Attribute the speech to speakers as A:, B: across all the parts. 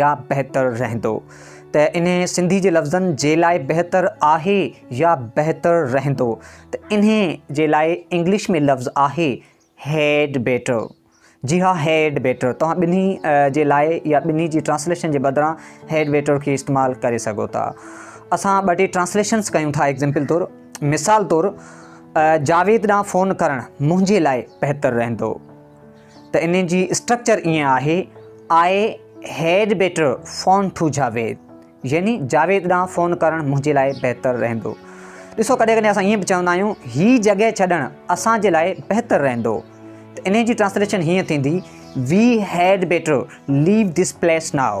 A: يا بهتر رهندو ته انهي سنڌي جي لفظن جي لاء بهتر آهي يا بهتر رهندو ته انهي جي لاء انگلش ۾ لفظ آهي هيڊ بيٽر جي ها هيڊ بيٽر توهان ٻنهي جي لاء يا ٻنهي جي ٽرانسليشن جي بدران هيڊ بيٽر کي استعمال ڪري سگهو ٿا اسان ٻه ٽي ٽرانسليشنس ڪيون ٿا ايگزامپل طور مثال طور جاويد ڏانهن فون ڪرڻ منهنجي لاء بهتر رهندو ته انهن جي اسٽرڪچر ائين آهي، I had better phone to Javed يعني جاويد ڏانهن فون ڪرڻ منهنجي لاء بهتر رهندو. ڏسو ڪڏهن ڪڏهن اسان ائين به چوندا آهيون هي جڳهه ڇڏڻ اسان جي لاء بهتر رهندو ته انهن جي ٽرانسليشن هيئن ٿيندي، we had better leave this place now.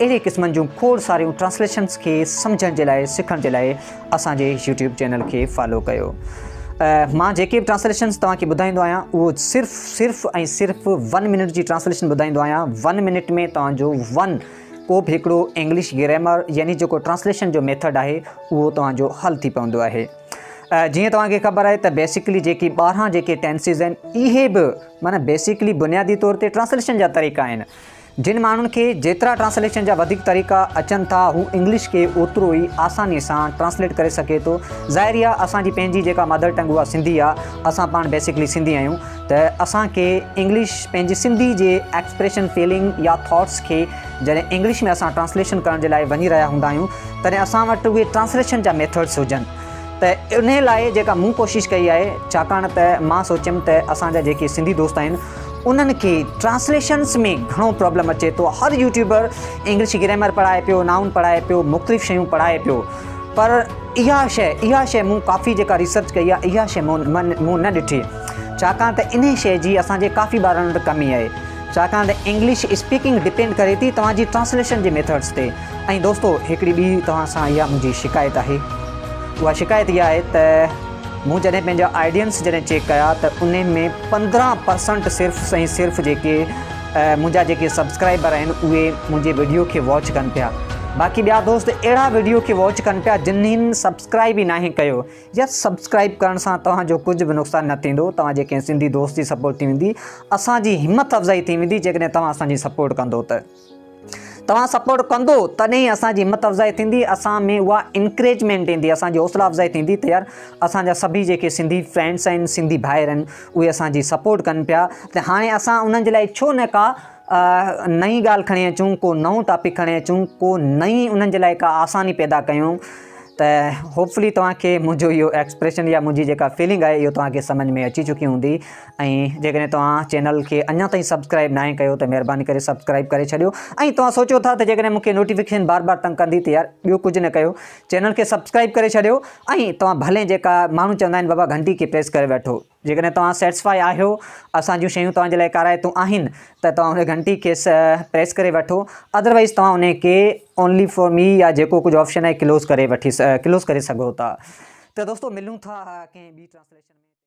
A: اهڙي قسمن جون کوڙ ساريون ٽرانسليشنس کي سمجهڻ جي لاء سکڻ جي لاء اسان جي يوٽيوب چينل کي فالو ڪيو مان جيڪي به ٽرانسليشنس توهان کي ٻڌائيندو آهيان اهو صرف صرف ۽ صرف ون منٽ جي ٽرانسليشن ٻڌائيندو آهيان ون منٽ ۾ توهان جو ون ڪو به هڪڙو انگلش گرامر يعني جيڪو ٽرانسليشن جو ميٿڊ آهي اهو توهان جو حل ٿي پوندو آهي جيئن توهان کي خبر آهي ته بيسڪلي جيڪي ٻاهران جيڪي ٽينسز آهن اهي به معنی بيسڪلي بنيادي طور تي ٽرانسليشن جا طريقا آهن جن ماڻهن کي جيترا ٽرانسليشن جا وڌيڪ طريقا اچن ٿا هو انگلش کي اوترو ئي آساني سان ٽرانسليٽ ڪري سگهي ٿو ظاهر ئي آهي اسان جي پنهنجي جيڪا مادر ٽنگ اها سنڌي آهي اسان پاڻ بيسڪلي سنڌي آهيون ته اسان کي انگلش پنهنجي سنڌي جي ايڪسپريشن فيلنگ يا ٿاٽس کي جڏهن انگلش ۾ اسان ٽرانسليشن ڪرڻ جي لاء وڃي رهيا هوندا آهيون تڏهن اسان وٽ اهي ٽرانسليشن جا ميٿڊس هجن ته انهي لاء جيڪا مون ڪوشش ڪئي آهي ڇاڪاڻ ته مان سوچيم ته اسان جا جيڪي سنڌي دوست آهن انهن کي ٽرانسليشنس ۾ گهڻو پرابلم اچي ٿو هر يوٽيوبر انگلش گريمر پڙهائي پيو نائون پڙهائي پيو مختلف شيون پڙهائي پيو پر اها شي اها شي مون ڪافي جيڪا ريسرچ ڪئي آهي اها شي مون مون نه ڏٺي ڇاڪاڻ ته انهي شي جي اسان جي ڪافي ٻارن وٽ ڪمي آهي ڇاڪاڻ ته انگلش اسپيڪنگ ڊپينڊ ڪري ٿي توهان جي ٽرانسليشن جي ميٿڊس تي ۽ دوستو هڪڙي ٻي توهان سان اها منهنجي شڪايت آهي اها شڪايت اها آهي ته مون جڏهن پنهنجا آئيڊينس جڏهن چيڪ ڪيا ته ان ۾ پندرهن پرسنٽ صرف ۽ صرف جيڪي منهنجا جيڪي سبسڪرائبر آهن اهي منهنجي ويڊيو کي واچ ڪن پيا باقي ٻيا دوست اهڙا ويڊيو کي واچ ڪن پيا جنهن سبسڪرائب ئي ناهي ڪيو يا سبسڪرائب ڪرڻ سان توهان جو ڪجهه به نقصان نه ٿيندو توهان جي ڪنهن سنڌي دوست جي سپورٽ ٿي ويندي اسان جي همٿ افزائي ٿي ويندي جيڪڏهن توهان اسان جي سپورٽ ڪندو ته توهان سپورٽ ڪندو تڏهن ئي اسان جي همت افزائي ٿيندي اسان ۾ اها انڪريجمينٽ ايندي اسان جي حوصلا افزائي ٿيندي ته يار اسان جا سڀئي جيڪي سنڌي فرينڊس آهن سنڌي ڀائر آهن اهي اسان جي سپورٽ ڪن پيا ته هاڻي اسان انهن جي لاء ڇو نه ڪا نئين ڳالهه کڻي اچون ڪو نئون ٽاپڪ کڻي اچون ڪو نئين انهن جي لاء ڪا آساني پيدا ڪيون ته هوپفلي توهان کي منهنجو اهو ايڪسپريشن يا منهنجي جيڪا فيلنگ آهي اهو توهان کي سمجھ ۾ اچي چڪي هوندي ۽ جيڪڏهن توهان چينل کي اڃا تائين سبسڪرائب ناهي ڪيو ته مهرباني ڪري سبسڪرائب ڪري ڇڏيو ۽ توهان سوچيو ٿا ته جيڪڏهن مون کي نوٽيفڪيشن بار بار تنگ ڪندي ته يار ٻيو ڪجهه نه ڪيو چينل کي سبسڪرائب ڪري ڇڏيو ۽ توهان ڀلين جيڪا ماڻهو چوندا آهن بابا گهنٽي کي پريس ڪري ويٺو جيڪڏهن توهان سيٽسفائي آهيو اسان جون شيون توهان جي لاء ڪارائتون آهن ته توهان ان گهنٽي کي پريس ڪري ويٺو اڌروائيز توهان ان کي اونلي فور مي يا جيڪو ڪجهه آپشن آهي ڪلوز ڪري وٺي ڪلوز ڪري سگهو ٿا ته دوستو ملون ٿا ڪنهن ٻي ٽرانسليشن ۾